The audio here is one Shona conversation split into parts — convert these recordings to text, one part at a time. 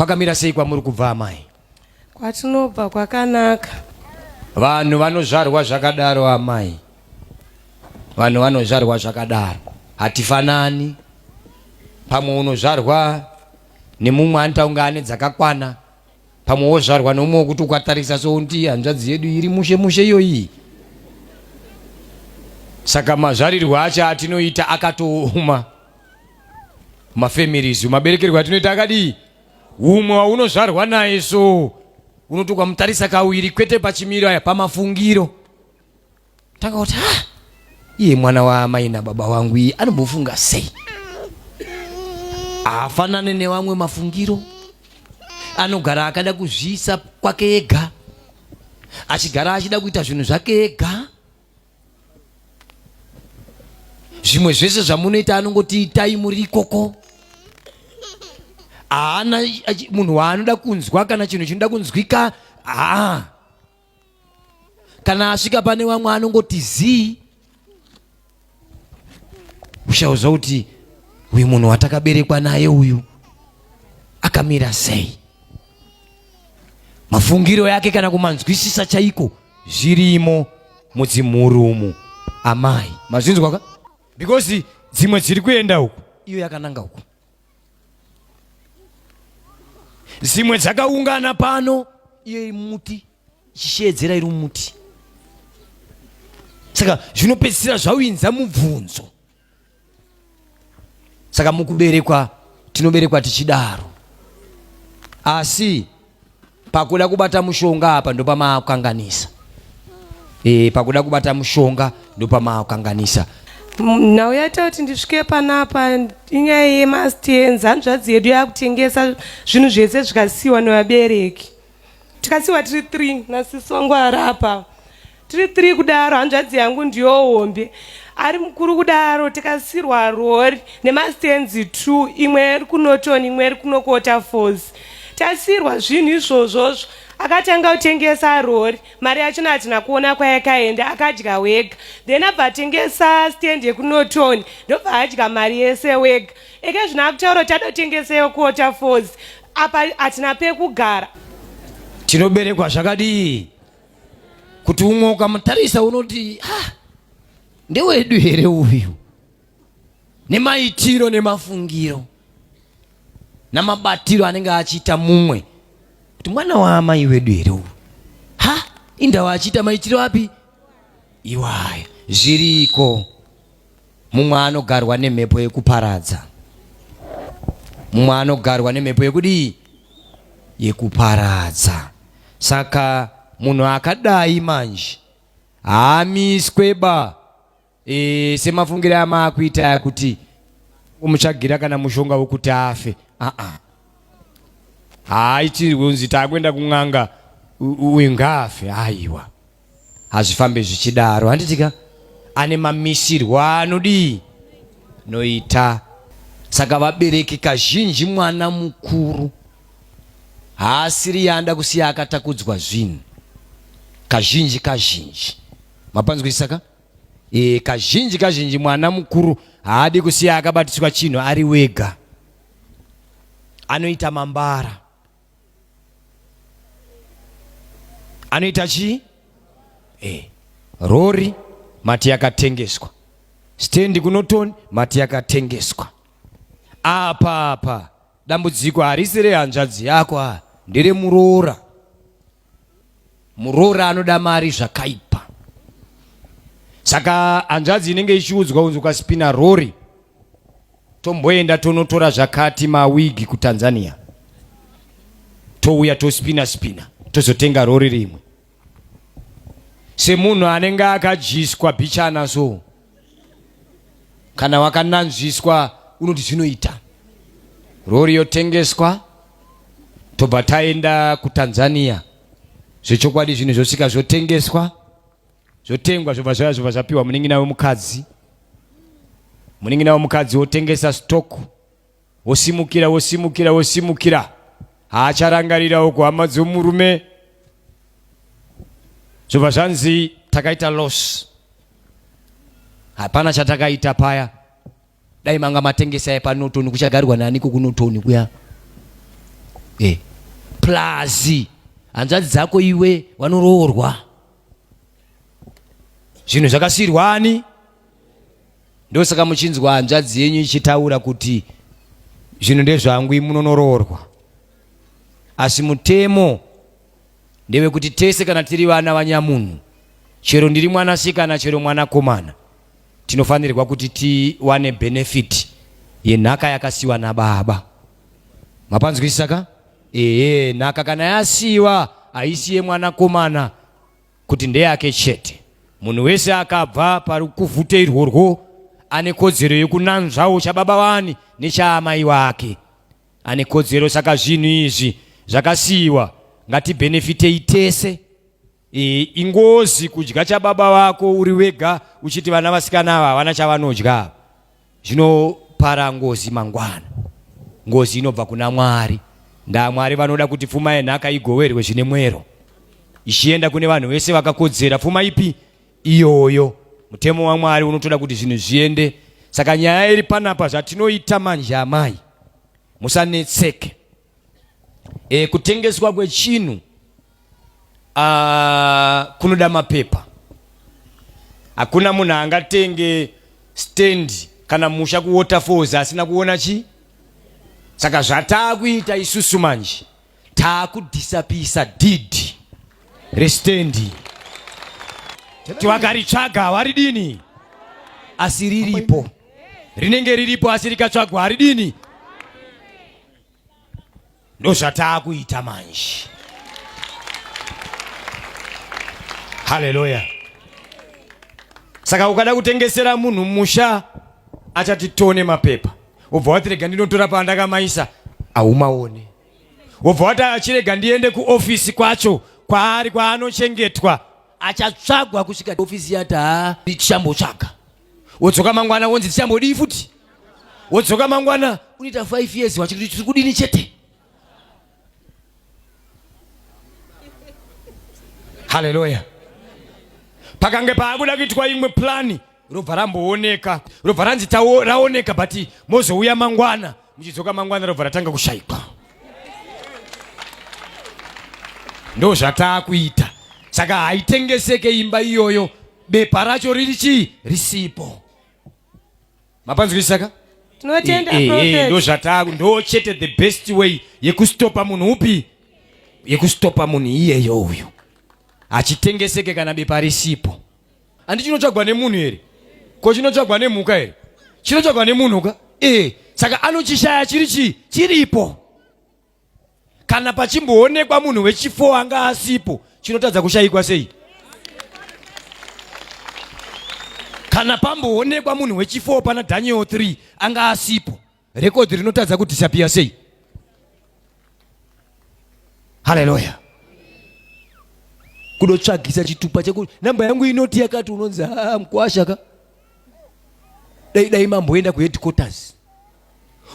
Kwakamira sei kwamuri kubva amai? Kwatinobva kwakanaka. Vanhu vanozvarwa zvakadaro amai. Vanhu vanozvarwa zvakadaro. Hatifanani. Pamwe unozvarwa nemumwe anita unga ane dzakakwana pamwe wozvarwa neumwe wokuti ukatarisa sounti hanzvadzi yedu iri mushe mushe iyoyi saka mazvarirwe acho atinoita akatooma mafamilies maberekerwe atinoita akadii umwe waunozvarwa naye so unoti ukamutarisa kawiri kwete pachimiro aya pamafungiro Ndakaoti ha ah, iye mwana waamai nababa wangu iye anombofunga sei? Haafanane nevamwe mafungiro, anogara akada kuzviisa kwake ega, achigara achida kuita zvinhu zvake ega. Zvimwe zvese zvamunoita anongoti itai muri ikoko haana munhu waanoda kunzwa kana chinhu chinoda kunzwika haa kana asvika pane vamwe anongoti zii ushauza kuti uyu munhu watakaberekwa naye uyu akamira sei mafungiro yake kana kumanzwisisa chaiko zvirimo mudzimhuri umu amai mazvinzwaka because dzimwe dziri kuenda uku iyo yakananga uku dzimwe dzakaungana pano iyo iri muti ichisheedzera iri muti saka zvinopedzisira zvawinza mubvunzo saka mukuberekwa tinoberekwa tichidaro asi pakuda kubata mushonga apa ndopamaakukanganisa e, pakuda kubata mushonga ndopamaakukanganisa nhau yaita kuti ndisvike panapa inyaya yemastenzi hanzvadzi yedu yakutengesa zvinhu zvese zvikasiyiwa nevabereki tikasiyiwa tiri three nasisongwara apa tiri three kudaro hanzvadzi yangu ndiyo hombe ari mukuru kudaro tikasirwa rori nemastenzi two imwe iri kunoton imwe iri kunokota fos tasirwa zvinhu izvozvozvo akatanga kutengesa rori mari yachona hatina kuona kwayakaenda akadya wega then abva atengesa stand yekunoton ndobva adya mari yese wega eke zvino akutaura kuti adotengesa yokota fos apa hatina pekugara tinoberekwa zvakadii kuti umwe ukamutarisa unoti ah, ndewedu here uyu nemaitiro nemafungiro namabatiro anenge achiita mumwe kuti mwana waamai wedu here uyu ha indawa achiita maitiro api iwaya zviriko mumwe anogarwa nemhepo yekuparadza mumwe anogarwa nemhepo yekudii yekuparadza saka munhu akadai manje haamiswe ba e, semafungiro amaakuita aya kuti umutsvagira kana mushonga wekuti afe aa haaitirwe unzi taakuenda kun'anga uyu ngaafe haiwa hazvifambe zvichidaro handitika ane mamisirwo anodii noita saka vabereki kazhinji mwana mukuru haasiri yaanda kusiya akatakudzwa zvinhu kazhinji kazhinji mapanzwisisa ka e, kazhinji kazhinji mwana mukuru haadi kusiya akabatiswa chinhu ari wega anoita mambara anoita chii eh. rori mati yakatengeswa stendi kunotoni mati yakatengeswa apa apa dambudziko harisi rehanzvadzi yako a nderemuroora Muroora anoda mari zvakaipa. Saka hanzvadzi inenge ichiudzwa unzi ukaspina rori tomboenda tonotora zvakati mawigi kuTanzania touya tospina spina tozotenga rori rimwe semunhu anenge akadyiswa bichana so kana wakananzviswa unoti zvinoita rori yotengeswa tobva taenda kutanzania zvechokwadi zvinhu zvosvika zvotengeswa zvotengwa zvobva zvaya zvobva zvapiwa munin'ina wemukadzi munin'ina wemukadzi wotengesa stock wosimukira wosimukira wosimukira haacharangarirawo kuhama dzomurume zvobva zvanzi takaita loss hapana chatakaita paya dai manga matengesa yepanotoni kuchagarwa naniko kunotoni kuya e eh, plazi hanzvadzi dzako iwe wanoroorwa zvinhu zvakasiyirwa ani ndosaka muchinzwa hanzvadzi yenyu ichitaura kuti zvinhu ndezvangu imunonoroorwa asi mutemo ndewekuti tese kana tiri vana vanyamunhu chero ndiri mwanasikana chero mwanakomana tinofanirwa kuti tiwane benefit yenhaka yakasiwa nababa mapanzwisisa ka ehe nhaka kana yasiwa haisi yemwanakomana kuti ndeyake chete munhu wese akabva pari kuvhute irworwo ane kodzero yekunanzvawo chababa wani nechaamai wake ane kodzero saka zvinhu izvi zvakasiyiwa ngatibhenefitei tese e, ingozi kudya chababa vako uri wega uchiti vana vasikana ava havana chavanodya zvinopara ngozi mangwana ngozi inobva kuna mwari ndaa mwari vanoda kuti pfuma yenhaka igoverwe zvine mwero ichienda kune vanhu vese vakakodzera pfuma ipi iyoyo mutemo wamwari unotoda kuti zvinhu zviende saka nyaya iri panapa zvatinoita manje amai musanetseke e, kutengeswa kwechinhu ah, kunoda mapepa hakuna munhu angatenge stand kana musha kuwaterfalls asina kuona chi saka zvataakuita isusu manje taakudisapisa did restendi kuti wakaritsvaga hawaridini asi riripo rinenge riripo asi rikatsvagwa haridini ndozvataakuita manje haleluya saka ukada kutengesera munhu musha achati tone mapepa wobva wati rega ndinotora pandakamaisa haumaone wobva wati achirega ndiende kuofisi kwacho kwaari kwaanochengetwa achatsvagwa kusvika ofisi yati haa ndichambotsvaga wodzoka mangwana wonzi tichambodii futi wodzoka mangwana unoita five years wachikuti tiri kudini chete haleluya pakange paakuda kuitwa imwe plani robva rambooneka robva ranzi raoneka but mozouya mangwana muchidzoka mangwana robva ratanga kushaikwa ndo zvataakuita saka haitengeseke imba iyoyo bepa racho riri chii risipo mapanzwisaka tinotenda eh, eh, eh, prophet ndozvataku ndo chete the best way yekustopa munhu upi yekustopa munhu iyeyo uyu hachitengeseke kana bepa risipo handi chinotsvagwa nemunhu here ko chinotsvagwa nemhuka here chinotsvagwa nemunhu ka ee saka anochishaya chiri chii chiripo kana pachimboonekwa munhu wechifo anga asipo chinotadza kushayikwa sei kana pamboonekwa munhu wechifo pana daniel 3 anga asipo rekodhi rinotadza kudhisapiya sei haleluya kudotsvagisa chitupa chekuti namba yangu inoti yakati unonzi ah, mkwasha ka dai dai mamboenda kuheadquarters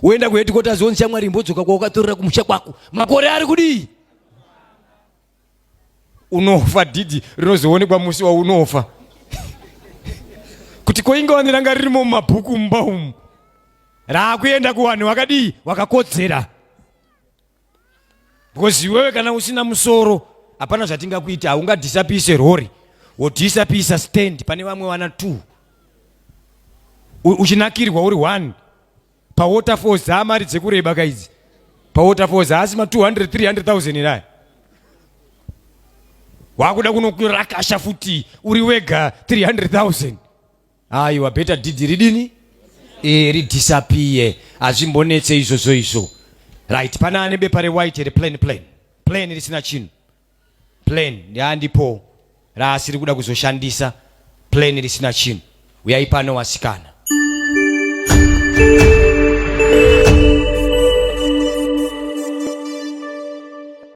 woenda kuhedikotas wonzi shamwari imbodzoka kwaukatorera kumusha kwako makore ari kudii unofa dhidhi rinozoonekwa musi waunofa kuti koinge wani ranga ririmo mumabhuku mumba umu raakuenda kuwanhu wakadii wakakodzera because iwewe kana usina musoro hapana zvatingakuita haungadhisapise rori wodhisapisa stand pane vamwe vana two uchinakirwa uri one pawaterfalls haa mari dzekureba kaidzi pawaterfalls haasi ma 200 300000 eraya wakuda kunokurakasha futi uri wega 300000 aiwa beta didi ridini e, ridhisapiye hazvimbonetse izvozvo izvo right pana ane bepa rewhite here plan plan plan risina chinhu plan ndiandipo raasiri kuda kuzoshandisa plan risina chinhu uyai pano wasikana